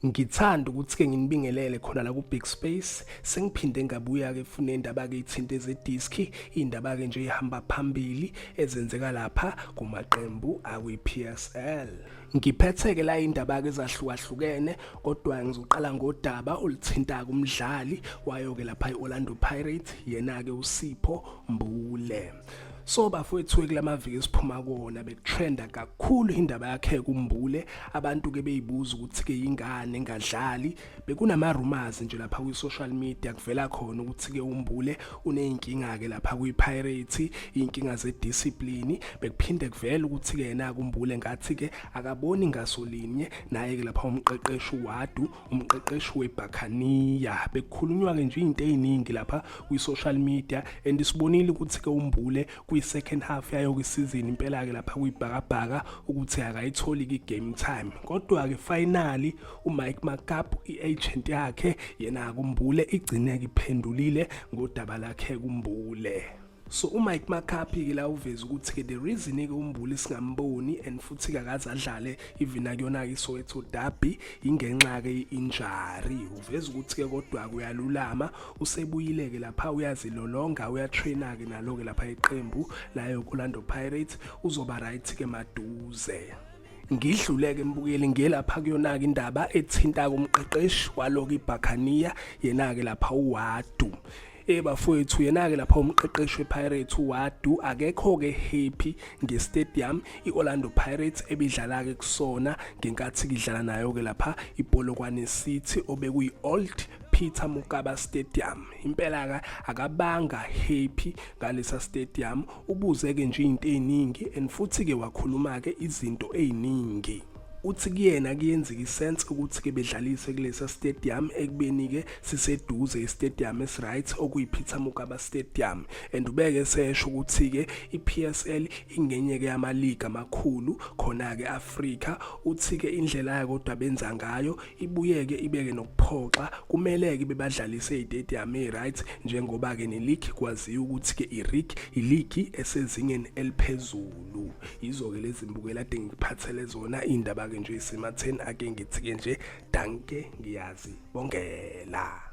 Ngithanda ukuthi-ke nginibingelele khona la ku-Big Space. Sengiphinde ngabuya-ke fune indaba-ke ithinte zediski, iy'ndaba-ke nje ey'hamba phambili ezenzeka lapha kumaqembu akwi-PSL. Ngiphethe-ke la iy'ndaba-ke ezahlukahlukene kodwa ngizoqala ngodaba oluthinta-ke umdlali wayo-ke lapha i-Orlando Pirates, yena-ke uSipho Mbule. So bafowethu kulamaviki esiphuma kuwona bekutrenda kakhulu indaba yakhe kumbule abantu ke beyibuza ukuthi ke ingane engadlali bekunama rumors nje lapha kwi social media kuvela khona ukuthi ke umbule uneyinkinga ke lapha kwi Pirates inkinga ze discipline bekuphinde kuvela ukuthi ke yena kumbule ngathi ke akaboni ngasolinye naye ke lapha umqeqeshi wadu umqeqeshi weBhakaniya bekukhulunywa ke nje izinto eziningi lapha kwi-social media and sibonile ukuthi ke umbule kwi-second half yayo kwisizini impela ke lapha kuyibhakabhaka ukuthi akayitholi ki-game time kodwa ke finally uMike Makapu i-agent yakhe yena kumbule igcine iphendulile ngodaba lakhe kumbule so uMike Makapi ke la uveza ukuthi ke the reason ke umbuli singamboni and futhi kakaze adlale even akuyona ke Soweto derby ingenxa ke injury uveza ukuthi ke kodwa kuyalulama usebuyile ke lapha uyazilolonga uyatraina ke nalo ke lapha iqembu layo Orlando Pirates uzoba right ke maduze ngidluleke embukeli ngelapha kuyona-ke indaba ethinta-ke umqeqeshi waloku ibhakhaniya yena-ke lapha uwadu Eh bafowethu yena-ke lapha umqeqeshi wePirates uWadu akekho-ke happy ngestadium i-Orlando Pirates ebidlala-ke kusona ngenkathi kidlala nayo-ke lapha iPolokwane City obekuyi-Old Peter Mokaba Stadium impela ka akabanga happy ngalesa stadium ubuze ke nje izinto eziningi and futhi ke wakhuluma ke izinto eziningi uthi kuyena kuyenzeka isense ukuthi-ke bedlalise kulesa stadium ekubeni-ke siseduze istadium esiright okuyi-peter mugaba stadium and ubeke esesho ukuthi-ke i-p s l ingenye-ke yamaligi amakhulu khona-ke afrika uthi-ke indlela yayo kodwa benza ngayo ibuyeke ibeke nokuphoxa kumele-ke bebadlalise istadium e-right njengoba-ke neligi kwaziwa ukuthi-ke irig iligi esezingeni eliphezulu lu yizo-ke lezi mbukela ade ngikuphathele zona iy'ndaba-ke nje isematheni ake ngithi-ke nje danke ngiyazi bongela